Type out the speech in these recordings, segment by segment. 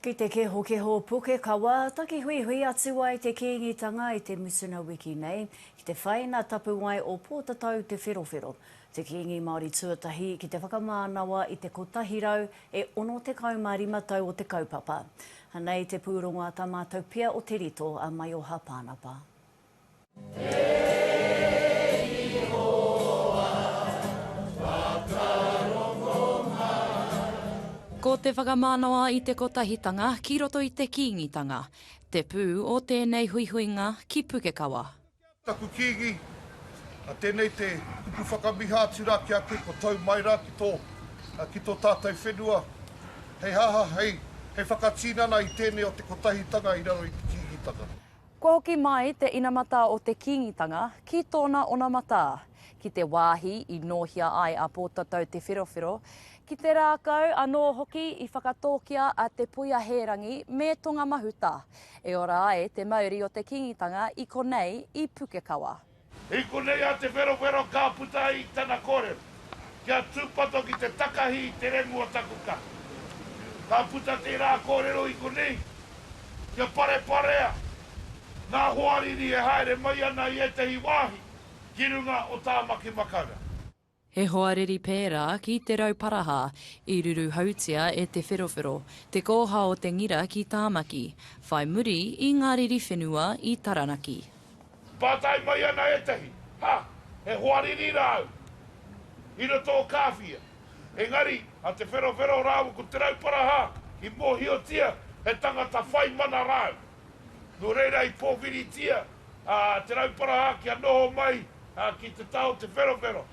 Ki te kehokeho pukekawa, takihuihui atu ai te Kīngitanga i te mutuna wiki nei, ki te whaina tapuwae o Pōtatau Te Wherowhero, te Kīngi Māori tuatahi ki te whakamānawa i te 165 tau o te kaupapa. Anei te pūrongo a tā mātou pia o Te Rito, a Maioha Pānapa. Ko te whakamanawa i te kotahitanga ki roto i te Kīngitanga, te pū o tēnei huihuinga ki Pukekawa. Taku Kīngi, a tēnei te kupu whakamiha atu rā ki a koe kua tau mai rā ki tō, ki tō tātou whenua, hei haha, hei, hei whakatīnana i tēnei o te kotahitanga i raro i te Kīngitanga. Kua hoki mai te inamata o te Kīngitanga ki tōna onamata, ki te wāhi i nōhia ai a Pōtatau Te Wherowhero, ki te rākau anō hoki i whakatōkia a Te Puia Hērangi me Tonga Mahuta, e ora ai te mauri o te Kīngitanga i konei i Pukekawa. I konei a Te Wherowhero ka puta i tana kōrero, kia tūpato ki te takahi i te remu o taku kaha. Ka puta tērā kōrero i konei, kia pareparea ngā hoariri e haere mai ana i ētahi wāhi ki runga o Tāmaki Makaurau. He hoariri pērā ki Te Rauparaha, i ruruhautia e Te Wherowhero, te kōha o Te Ngira ki Tāmaki, whai muri i ngā riri whenua i Taranaki. Pātai mai ana ētahi, Ha! He hoariri rāu i roto o Kāwhia? Engari, a Te Wherowhero rāua ko Te Rauparaha i mōhiotia he tangata whai mana rāu. Nō reira i pōwhiritia Te Rauparaha kia noho mai ki te tao Te Wherowhero.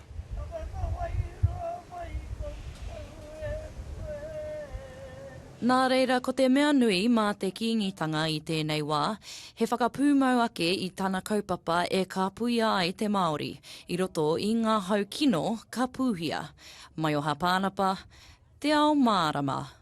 Nā reira ko te mea nui mā te Kīngitanga i tēnei wā, he whakapūmau ake i tana kaupapa e kāpuia ai te Māori i roto i ngā hau kino ka pūhia. Maioha Pānapa, Te Ao Mārama.